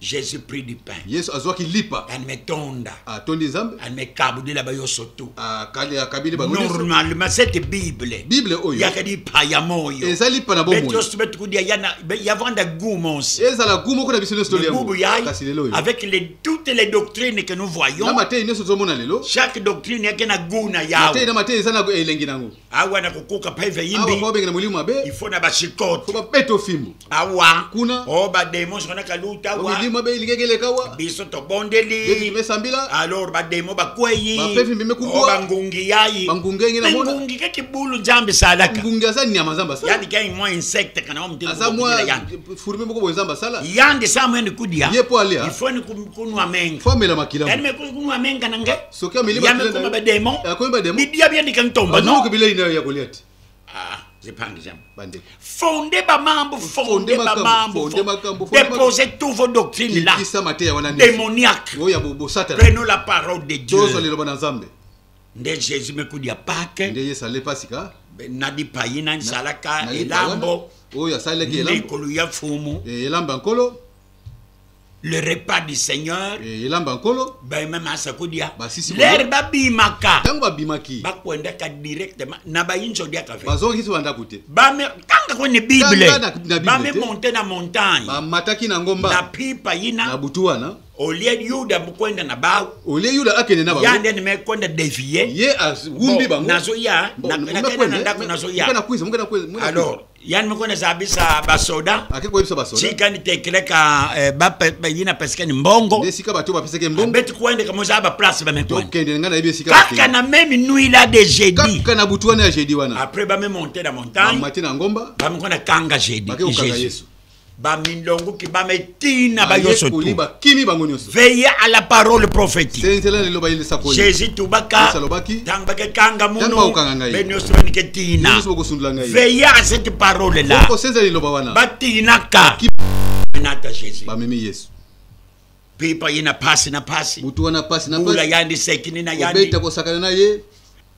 Jésus prit du pain. Yesu azwaki lipa. Ametonda. Atondi Nzambe. Amekabudela ba yo soto. Akali akabili bango. Normalement cette Bible. Bible oyo. Yaka lipa ya moyo. Eza lipa na bomoi. Beto sobe tukudia yana yavanda gumos. Eza la gumo kuna biso nyoso toli yango. Kasi lelo oyo. Avec les toutes les doctrines que nous voyons. Na matei nyoso tozomona lelo. Chaque doctrine yake na guna yao. Matei na matei eza na elengi nango. awa na kokoka mpaive awa yimbi mpo babengana molimo mabe ifo na bashikote mpo babeta ofimbo awa Kuna. o bademo sona kaluta Mpo awa milimo mabe elingaki eleka wa biso beti tobondeli mesambila alors bademo bakweyi Bapevi mbembe kubwa. o bangungi yayi Bangungi yangi namona. bangungi kaki bulu nzambe salaka ngungi aza nyama nzambe asala yandi kai mwa insecte kana wa mutema aza mwa kokokila yandi furime moko boye nzambe asala yandi sa mwende kudia Ye po alia. ifoni kunwa menga fo amela makila yani me kunwa menga na nge soki ameli bakoma bademon bibiya biyandika ntomba noke bilei nayo ya kolia te ah, zepanga jambo bandeko fonde bamambo fonde bamambo depose tout vos doctrines là kisa mateya wana démoniaque oyo ya bosatana prenons la parole de dieu tozwa liloba na nzambe nde jésus mekudi ya pake nde yesu ale pasika na bipayi na nzalaka elambo oyo asalaki elambo likolo ya fumu eh, elambo ya nkolo le repas du seigneur eh, elamba nkolo bayema masa kodia lere babimaka ntango babimaki bakwendaka directement na bayinso odiaka ve bazongisi bandako te tanga koni bible bame monte na montagne bamataki na ngomba na pipa yina na butu wana olie yuda mokwenda na bao olie yuda akende na bango ya nde nime kwenda devie ye awumbi bango nazoya nakenda na ndako nazoya alors yani moko na zabisa basoda ake koyebisa basoda tika ni tekeleka eh, ba yina pesika ni mbongo nde sika bato bapeseke mbongo beti kuende kama za ba place ba meto tokende nga na yebi sika kaka na meme nuit là de jeudi kaka na butu wana ya jeudi wana après ba me monter na montagne ba matin na ngomba ba me kona kanga jeudi ba kanga yesu bamilongo kibama etina bayoso tu bakimi bango nyonso veille à la parole prophétique senzela liloba yeli sakoli jésus tubaka salobaki tang bakekanga muno bakanga ngai be nyonso banike tina nyonso bakosundula ngai veille à cette parole là ko senzela liloba wana batinaka nata jésus bamemi yesu pipa ye na pasi na pasi motu wana pasi na pasi ula yandi sekini na yandi obeta kosakana na ye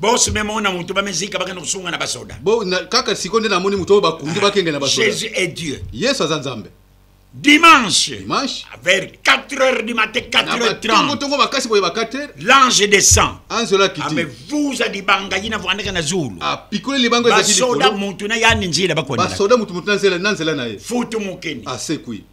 bosi meme ona moto bamizika bakende kosunga na basoda kaka siko nde namoni moto oyo bakundi ah, bakenge na basoda jésus est dieu yesu aza nzambe dimanche dimanche vers 4 heures du matin 4 heures 30 tongo makasi boye ba 4 heures l'ange descend anzola kiti ame ah, vuza libanga yina vandaka na zulu apikole ah, libanga ezaki likolo basoda mutu na yani nzela bakona basoda mutu mutu na nzela na nzela na ye futu mukeni asekwi ah,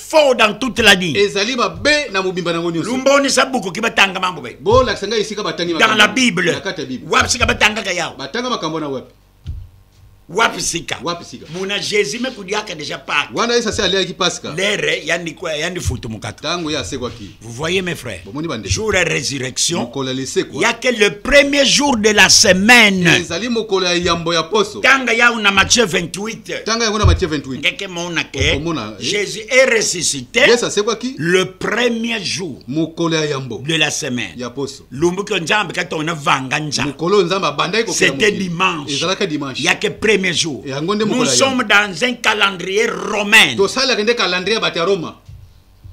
faux dans toute la vie. Ezali ba be na mobimba nango nyoso. Lumboni sa buku ki batanga mango be. Bo la kisanga isika batangi Dans la Bible. Nakata Bible. Wapi sika batanga ka yao. Batanga makambo na wapi? Wapi sika? Wapi sika? Muna Jésus me kudiaka déjà pas. Wana Yesu asi aliaki Pasika. Lere yandi kwa yandi futu mukata. Tango ya asekwa ki. Vous voyez mes frères, jour de résurrection, il n'y a que le premier jour de la semaine. Tanga ya una Matthieu 28. Tanga ya una Matthieu 28. Ndeke mona ke eh? Jésus est ressuscité. Le premier jour de la semaine. Ya poso. Lumbu ko njambe ka tona vanga njambe. Mukolo nzambe abandaki ko C'était dimanche. Ezalaka dimanche. Ya ke premier jour. Nous sommes dans un calendrier romain. To sala kende calendrier ba Roma.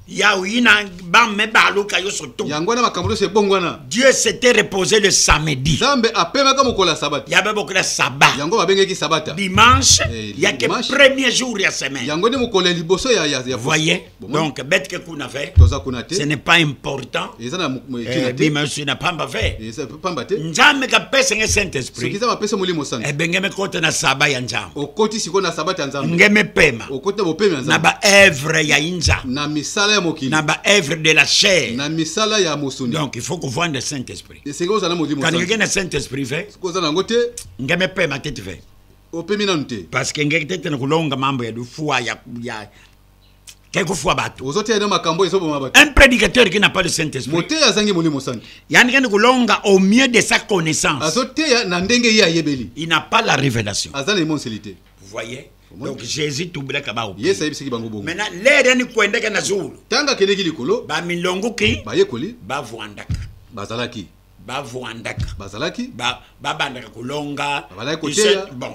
ya oyina bame baluka yo soto yango wana makambo nyonso ebongwana dieu s'était reposé le samedi nzambe apemaka mokolo ya sabata yabe mokolo ya saba yango babengeki sabata dimanche eh, yake premier jour ya semaine yango nde mokolo ya liboso ya, ya, ya voye donc betke kuna ve toza kuna te ce n'est pas important eza na eh, dimanche na pamba ve pamba te nzambe kapesa nge saint esprit soki nzambe apesa molimo santu ebe eh, nge mekota na saba ya nzambe okoti sikoyo na sabata ya nzambe nge mepema okoti na bopemi ya nzambe na baevre ya inza na misala ya mokili na baevre de la chair na misala ya mosuni donc il faut kovanda saint esprit esenge ozala na molimo santu kanenge na saint esprit ve sikoyo oza na yango te nge mepema te ti ve opemi nanu te parce que nge te te na kolonga mambo ya lufua ya, ya kei kofua bato ozoteya nde makambo ezoboma bato un prédicateur qui n'a pas le saint esprit moteya azangi molimo santu yani kende kolonga au mieux de sa connaissance azoteya na ndenge ye ayebeli il n'a pas la révélation aza na emoniseli te voyez donc jésus tubulaka bao yesu ayebisaki bango bongo maintenant lere yani kwendeke na zulu ntango akendeki likolo bamilongoki bayekoli bavwandaka bazalaki bavwandaka bazalaki babandaka kolonga bon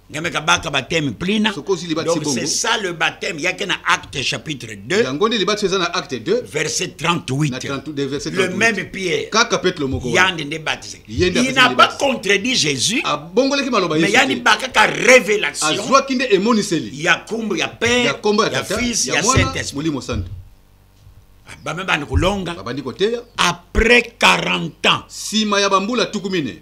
Nyame kabaka baptême plina. Donc c'est ça le baptême. Il y a qu'un acte chapitre 2. Yangoni libat c'est un acte 2. Verset 38. 30, verset 38. Le même Pierre. Kaka pète le moko. Yande ne baptisé. Il n'a pas contredit Jésus. A ah, bongole ki maloba Yesu. Mais yani baka ka révélation. Azwa kinde emoniseli. Ya kombo ya père. Ya kombo ya tata. Ya fils ya Saint-Esprit. Molimo santo. Ah, ba même bande kolonga. Ba bandi koteya. Après 40 ans. Sima ya bambula tukumine.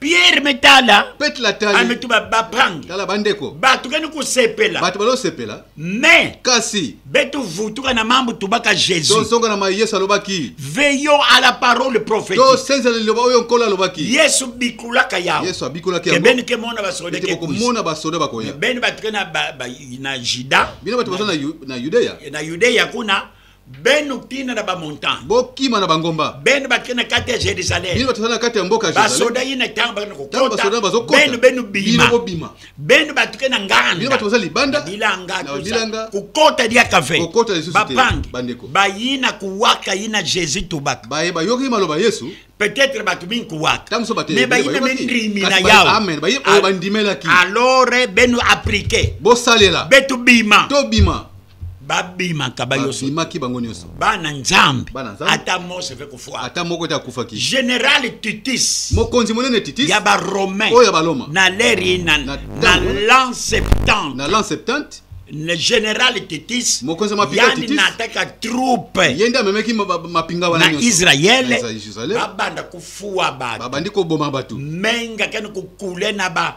pierre metala pete latali ametu ah, babrange tala bandeko bato kani kosepela bato balosepela me kasi betovutuka na mambo tubaka jésus tozonga na mai yesu alobaki veillon à la parole prophète tosenzela liloba oyo nkolo alobaki yesu bikulaka yango yesu abikulaki yango ebeni ke mona basoda ke komona basoda bakoya ebeni bato ke na na juda bino bato baza na yudea na yudea kuna Ben okina na bamontant bokima na bangomba ben bakei na kati ya jerusalem bino bato na kati ya mboka basoda ye na ntango bakenda kokota bakokota benu benu bima bobima benu bato ke na nganda bino bato baza libanda bilanga bilanga kokota lia kafe kokota lisusu te bapangi bandeko bayina kuwaka yina jesus tobaka baye bayoki maloba yesu peut-être bato mingi kowaka me bayina bendimi na yawe alors benu aplike bosalela betobima tobima babimaka bayosbimaki bango nyonso bana nzambe ata mose mpe kofuka ata moko te akufaki general titis mokonzi monene titis ya baromain oyo ya baloma na leri na, na, na lan septante na lan septante le general titis mokonzi mapiyani nataka troupe ye nde amemeki mapinga wana na israele babanda kofuwa bato babandi koboma bato menga kani kokule na ba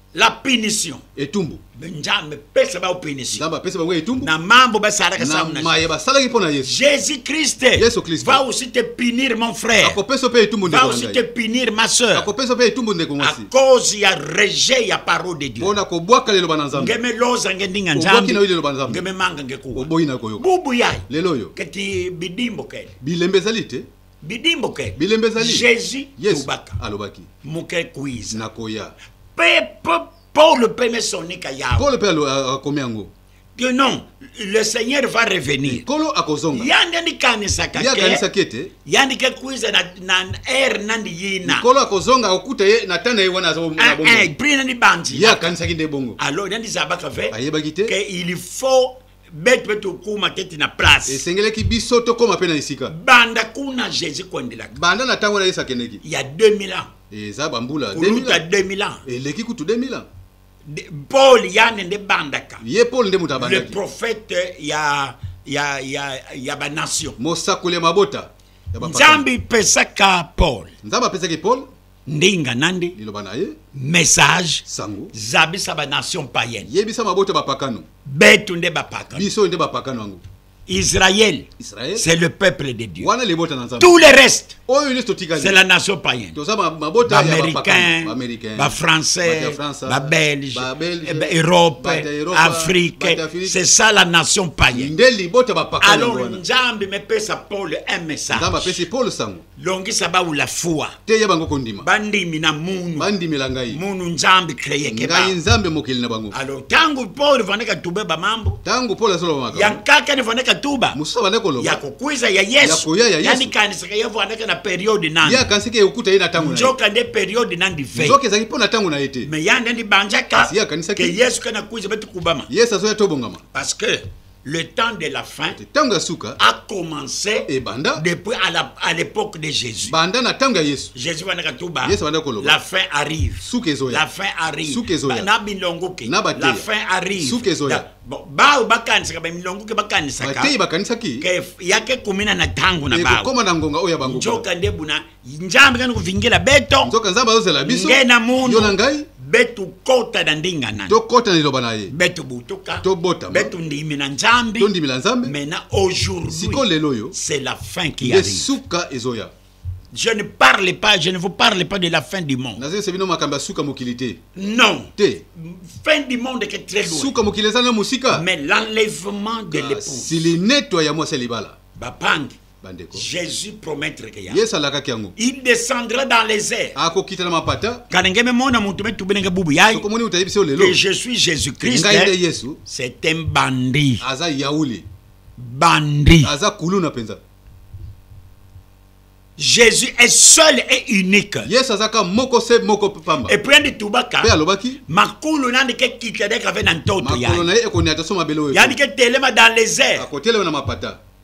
la punition etumbu nzambe pesa bango punition nzambe apesa bango etumbu na mambo basalaka samu na maye basalaki mpo na yesu jésus christ yesu christ va aussi te punir mon frère akopesa mpe etumbu ndeko va aussi te punir ma sœur akopesa mpe etumbu ndeko ngasi à cause ya rejet ya parole de dieu mpona kobwaka liloba na nzambe ngeme loza nge ndinga nzambe na liloba nzambe ngeme manga nge kuwa oboyi na koyoka bubu yaye lelo oyo keti bidimbo kele bilembe ezali te bidi moke bilembe ezali jésus yes. tubaka alobaki moke kuiza nakoya pe paul mpe mesonika yawe paul mpe akomi yango que non le seigneur va revenir kolo akozonga ya nde ndikanisaka ye akanisaki ete ya ndike kuiza na, na aire nandi yina kolo akozonga akokuta ye na tana ye wana aza na ah, bongo eh, prix nandi banzi ye akanisaki nde bongo alors nandi zabaka ve ayebaki te que il faut bete mpe tokóma te ti na place esengelaki biso tokóma mpe na esika banda kuna jésus koendelaka banda na ntango na yesu akendeki ya 2000 ans eza bambula koluta 2000 ans eleki kutu 2000 ans paul yane nde bandaka ye paul nde moto abandaki le prophète ya ya ya ya banation mosakoli ya mabota nzambe ipesaka paul nzambe apesaki paul ndinga nande liloba na ye message sango zabisa ba nation païenne yebisa mabota bapakano betu nde bapakano biso nde bapakano yango Israël, Israël c'est le peuple de Dieu. Tout le reste, oh, c'est la nation païenne. Américains, les Français, les Belges, l'Europe, l'Afrique, c'est ça la nation païenne. Alors, Nzambi me pèse à Paul un message. longisa bawula fuwa teya bango kondima bandimi na munu bandimela ngai munu nzambe kreyeke ngai nzambe mokeli na bango alors ntango paul vande katuba bamambo ntango paul azoloba makambo ya nkaka ne vande katuba mosusu abande koloba ya kokwiza ya yesu ya koya ya yesu yanikanisaka ye vandaka na periode nani ye akanisaki ekokuta ye na ntango nzoka nde periode nandi ve nzoka ezalaki mpo na ntango na ye te me ya nde ndibanjaka ye akanisaki ke yesu kana kwiza beti kubama yesu azoya tobongama parce que le temps de la fin ntango ya suka a commencé ebanda depuis à, la, à l'époque de Jésus banda na ntango ya Yesu Jésus bandaka tuba Yesu bandaka koloba la fin arrive suka ezoya la fin arrive suka ezoya na bilongo ke na bateya la fin arrive suka ezoya bon bao bakanisaka ba milongo ke bakanisaka bateyi bakanisaki ke yake kumina na ntango na bao ekokoma na ngonga oyo ya bango njoka nde buna njambe kani kovingela beto nzoka nzambe azozela biso nge na mundu yo na ngai betu kota na ndinga nani tokota na liloba na ye betu butuka tobotama betu ndimi na nzambe tondimela nzambe maintenant aujourd'hui siko lelo yo c'est la fin qui arrive suka ezoya Je ne parle pas, je ne vous parle pas de la fin du monde. Non. Fin du monde est très loin. Mais l'enlèvement de ah, l'épouse. Si les nettoyons, moi, c'est les balas. Bapang. bandeko jesus promettreke yango yesu alakaki yango il descendra dans les airs akokita na mapata kala nge memona moto metube ndenge bubu yai sokomoni moto ayebisi yo lelo que je suis jésus christ ngai nde yesu c'est un bandit aza yauli bandit aza kuluna mpenza Jésus est seul et unique. Yesu azaka moko se moko pamba. Et puis ndi tubaka. Pe alobaki. Makulu nandi ke kitadeka ve na ntoto ya. Makulu na ye ekoni ataso mabelo. Yani ke telema dans les airs. Akotelema na mapata.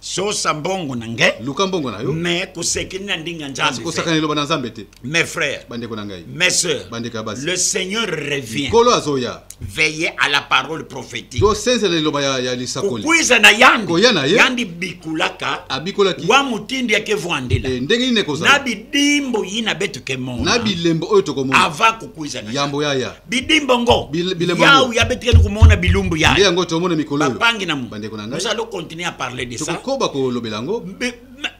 sosa mbongo na ngai luka mbongo na yo me kosekini na ndinga nzambe kosakana eloba na nzambe te mes frères bandeko na ngai mes sœurs bandeko ya basi le seigneur revient nkolo azoya veille à la parole prophétique tosenzela liloba ya, ya lisakoli kokweza na yandi koya na ye yandi bikulaka abikolaki wa motindi yake vwandela e, ndenge nini ekozala na bidimbo yina betuke mona na bilembo oyo tokomona ava kokweza na yambo yaya bidimbo ngo yawu ya betikani komona bilumbu ya nde yango tomona mikolo oyo bapangi na bandeko na ngai nous allons continuer à parler de ça tokokoba kolobela yango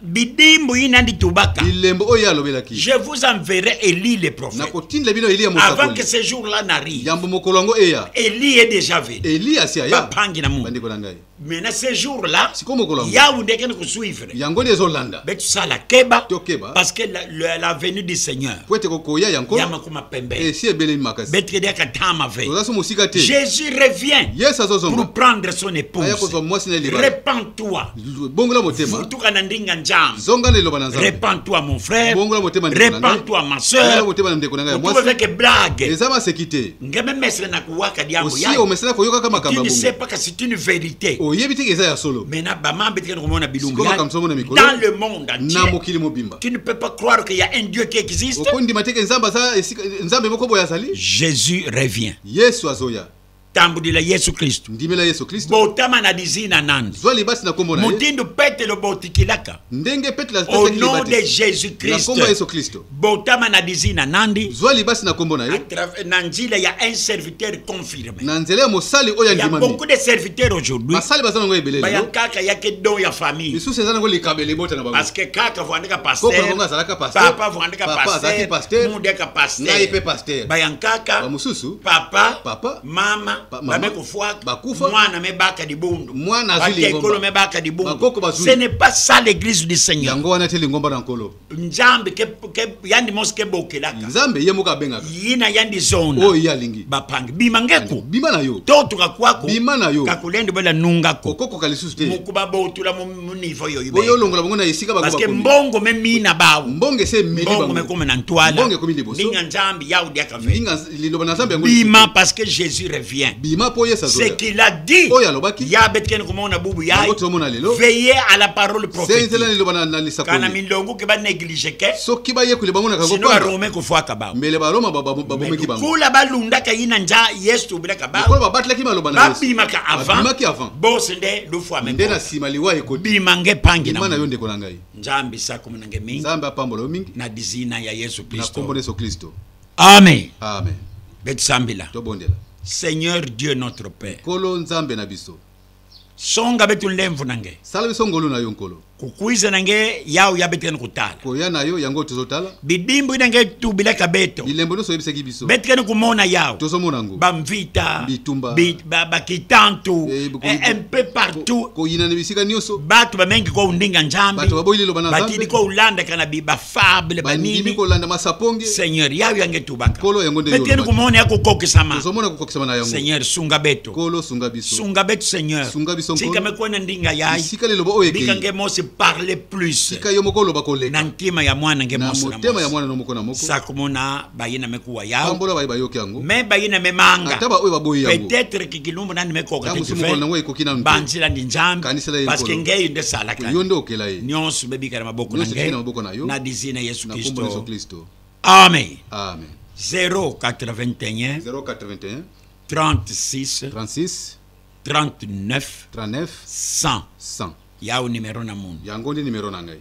bidimbu ina ndi tubaka bilembo oyo alobelaki je vous enverrai elie le prophète nakotindela bino elie mosakoli avant que ce jour là n'arrive yambo mokolo yango eya elie est déjà venu elie asi aya bapangi na mu bandeko na ngai mais na ce jour là sikoyo mokolo yawu nde ekende kosuivre yango nde ezolanda mpe tosala keba tokeba parce que la, la, la venue du seigneur mpo ete kokoya ya nkolo yamakoma pembe esi eh, ebelemi makasi beteke diaka tama ve oza so mosika te jésus revient yesu azozonga pour prendre son épouse aya kozwa mwasi na elibala repent toi bongola motema futuka na ndinga nzambe zonga na eloba na nzambe repent toi mon frère bongola motema repent toi ma sœur bongola motema na ndeko na ngai ya mwasi avec blague eza maseki te nga me mesre na kuwaka diango osi omesana koyokaka makambo tu ne sais pas que c'est une vérité oyebi te eza ya solo mais na bama mbe tika komona bilumbu ya makambo mona mikolo dans le monde entier na mokili mobimba tu ne peux pas croire qu'il y a un dieu qui existe okondima te ke nzambe aza nzambe moko boye azali Jésus revient Yesu azoya tambudila yesu kristu ndimela yesu kristu botama na lizina nani zwa libasi na kombo na ye motindo petelo botikilaka ndenge petelo au nom de jésus christ na yesu kristo botama na lizi na nandi zwa libasi na kombo na yo na nzela ya un serviteur confirme na nzela ya mosali oyo andimami beaucoup de serviteurs aujourd'hui basali baza nango ebele lelo kaka ya ke don ya famille misusu eza nango likabo elebota na bango parce que kaka vandika pasteur koko nango azalaka pasteur papa vandika pasteur papa azalaki pasteur mudeka pasteur ngai pe pasteur bayankaka bamususu papa papa mama babe kofuaka bakufa mwana mebaka libundu mwana azwi lingomba mebaka libundu bakoko bazwi ce n'est pas ça l'église du seigneur yango wana te lingomba na nkolo nzambe ke, ke yandi mose kebokelaka nzambe ye moko abengaka ye na yandi zona oyo oh, ye alingi bapangi bima ngeko bima na yo totuka kwako bima na yo kakolende bela nungako okokoka lisusu te mokuba botula mu niveau yo ibe oyo olongola bango na esika bakoba parce que mbongo me mina bawo mbongo ese mili bango mbongo mekoma na ntwala mbongo ekomi liboso ninga nzambe yaudi akaveli liloba na nzambe yango bima parce que jésus revient bima mpo yesu ce qu'il a dit oyo alobaki ya betikani komona bubu ya yango tozomona lelo veille à la parole prophétisela liloba na lisakoli kana milongo ke banéglige ke soki bayekoli bamonaka yango sino arome kofuaka bango mbele baroma babomeki bango kula balundaka ye na nja yesu tobelaka bango kula babatelaki maloba na yesu babimaka avant babimaki avant bose nde lufuame nde na nsima liwa ekoti bima nge pangi na yo ndeko na ngai nzambe sakomona nge mingi nzambe apambola yo mingi na dizina ya yesu kristo na kombo na yesu kristo Amen. Amen. Betsambila. Tobondela. Seigneur Dieu notre Père. Kolo Nzambe na biso. Songa betu lemvu nange. Sala biso ngolu na yo nkolo. Kukuiza nange yao ya betene kutala. Koya na yo yango tozotala. Bidimbu nange tubila kabeto. Bilembo nso yebisaki biso. Betene kumona yao. Tozomona ngo. Bamvita. Bitumba. Bi, ba, bakitantu. Eh, eh, un peu partout. Koyina ko, na bisika nyoso. Batu bamengi ko undinga Nzambe. Batu baboyi liloba na Nzambe. Batidi ko ulanda kana bi, ba, fable banini kolanda masaponge seigneur yayo yange tubaka kolo yango nde beteli kumona yako kokisama tozomona kokokisama na yango seigneur sunga beto kolo sunga biso sunga beto seigneur sunga biso nkolo tika mekona ndinga yayi sika liloba oyo ekei bikange mose parler plus sika yo moko loba koleka na ntima ya mwana nge mose na motema ya mwana no moko na moko sakomona baye na mekuwa yao pambola baye bayoki yango me baye na memanga ata baoyo baboyi yango peut-être kikilumbu nani mekoka te mokolo nango ekoki nanu banzela ndi nzambe kanisela ye parce que ngeyi nde salaka yo nde okela ye nyonso bebika na maboko na ngeyi na maboko na yo na dizi na yesu kristo na yesu kristo amen amen 081 081 36 36 39 39 100 100 yao numero na mundu yango nde numero na ngai